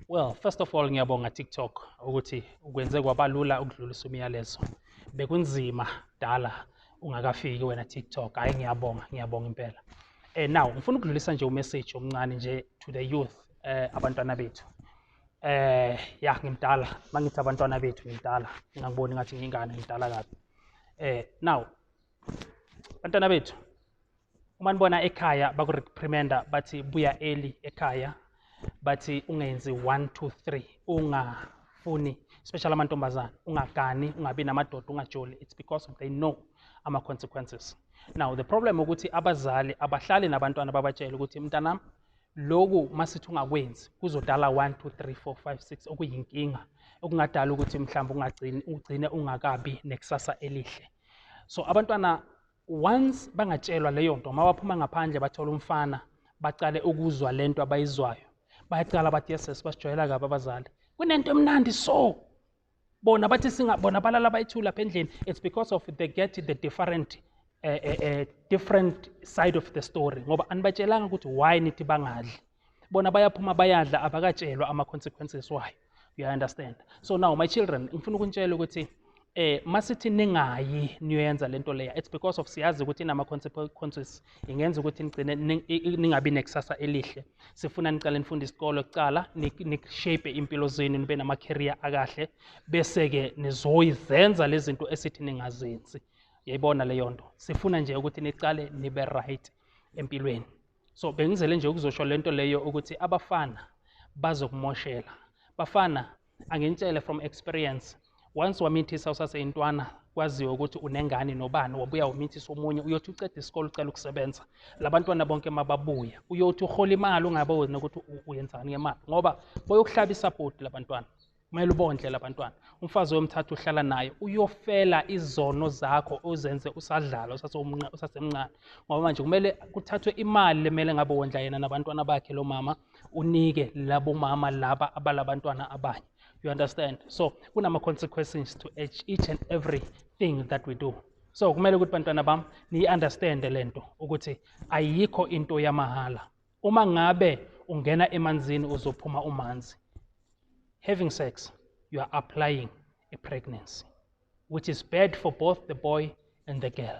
Well, first of all ngiyabonga TikTok ukuthi ukwenze kwabalula ukudlulisa umyalezo. Bekunzima dala ungakafiki wena TikTok. Hayi ngiyabonga, ngiyabonga impela. Eh now ngifuna ukudlulisa nje umessage omncane nje to the youth eh abantwana bethu. Eh ya ngimdala, mangithi abantwana bethu ngimdala. Ngangiboni ngathi ngingane ngimdala kabi. Eh now bantwana bethu uma nibona ekhaya bakureprimenda bathi buya eli ekhaya bathi ungenzi one two three ungafuni especially amantombazane ungagani ungabi namadoda ungajoli it's because they know ama-consequences now the problem ukuthi abazali abahlali nabantwana babatshele ukuthi mntanami loku masithi ungakwenzi kuzodala 1 2 3 4 5 6 okuyinkinga okungadala ukuthi mhlawumbe ungagcini ugcine ungakabi nekusasa elihle so abantwana once bangatshelwa leyo nto uma baphuma ngaphandle bathola umfana bacale ukuzwa le nto abayizwayo bayacala bathi yeses basijwayela kabi abazali kunento emnandi so bona bathi singabona balala bayithu lapha endlini it's because of they get the different uh, uh, uh, different side of the story ngoba anibatshelanga ukuthi why nithi bangadli bona bayaphuma bayadla abakatshelwa ama-consequences wayo you understand so now my children ngifuna ukunitshela ukuthi eh masithi ningayi niyoyenza lento leya it's because of siyazi ukuthi inama consequences ingenza ukuthi nigcine ningabi nekusasa elihle sifuna niqale nifunde isikolo kuqala nishape impilo zenu nibe nama career akahle bese ke nizoyizenza lezinto esithi ningazenzi yayibona leyo nto sifuna nje ukuthi niqale nibe right empilweni so bengizele nje ukuzosho le nto leyo ukuthi abafana bazokumoshela bafana anginitshele from experience once wamithisa usaseyintwana kwaziwe ukuthi unengane nobani wabuya wamithisa omunye uyothi uceda isikole ucela ukusebenza labantwana bonke mababuye uyothi uhola imali ungabe wena ukuthi uyenzani ngemali ngoba boyokuhlaba isapoti labantwana kumele ubondle labantwana umfazi oyomthatha uhlala naye uyofela izono zakho ozenze usadlala usasemncane ngoba manje kumele kuthathwe imali lemele ngabe wondla yena nabantwana bakhe lo mama unike labo mama laba abalabantwana abanye you understand so kunama-consequences to each and everything that we do so kumele ukuthi bantwana bam niyi-understande le nto ukuthi ayikho into yamahhala uma ngabe ungena emanzini uzophuma umanzi having sex you are applying a pregnancy which is bad for both the boy and the girl